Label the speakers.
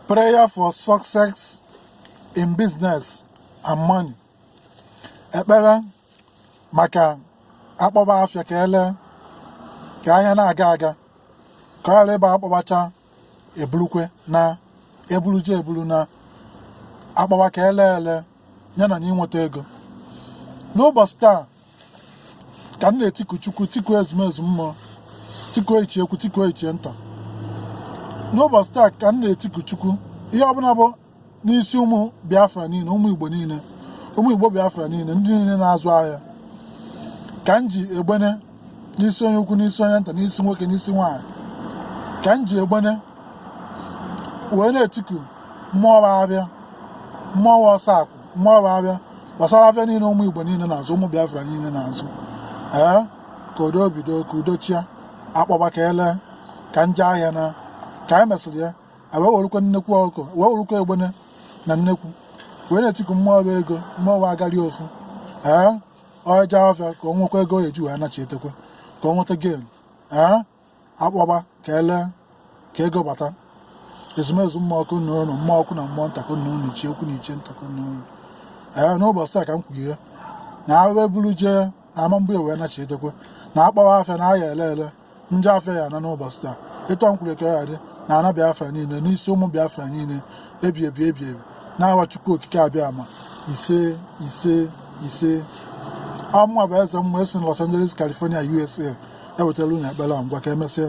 Speaker 1: prayer for success in business and money ekpere maka akpọba afịa ka ele ka ahịa na-aga aga ka ọ ghara ịbụ akpọbacha ebulukwe na ebulucha ebulu na akpọba ka ele ele ya na na inweta ego n'ụbọchị taa ka m na-etiku chukwu tiku ezumezu mmụọ tikuo ichie ukwu tikuo ichie nta n'ụbọchị taa ka m na-etiku chukwu ihe ọbụla bụ n'isi ụmụ biafra niile ụmụ igbo niile ụmụ igbo biafra niile ndị niile na-azụ ahịa ka m ji egbene n'isi onye ukwu n'isi onye nta n'isi nwoke n'isi nwaanyị ka m ji egbene wee na-etiku mmụọ abịa mmụọ ọsọ akụ mmụọ ụba bịa gbasara afịa niile ụmụ igbo niile na-azụ ụmụ biafra niile na-azụ ee ka udo bido ka udo chịa akpọba ka ele ka nje ahịa na ka anyị mesịrị ya wee werukwa nnekwu ọkụ wee werukwa egbene na nnekwu wee na-etiku mmụọ bụ ego mmụọ bụ ọganihu ee ọ jee afịa ka ọ nwekwa ego eji wee nachi etekwe ka ọ nweta ego ee akpọba ka ele ka ego bata ezumezu mmụọ ekene unu mmụọ ukwu na mmụọ nta ekene unu ichie ukwu na ichie nta ekene unu ee n'ụbọchị taa ka m kwughie na awe buru jee na ama mgbe wee nachi edekwe na akpọba afịa na a ya-ele ele ndị afịa ya na n'ụbọchị taa ịtọ nkwuru eke ya dị na ana biafra niile n'isi ụmụ biafra niile ebi ebi ebi ebi n'aha Chukwu okike abịama ise ise ise ọ mụwa bụ eze mmụọ esi na Los Angeles California USA ewetara unu ekpere a ngwa ka emesịa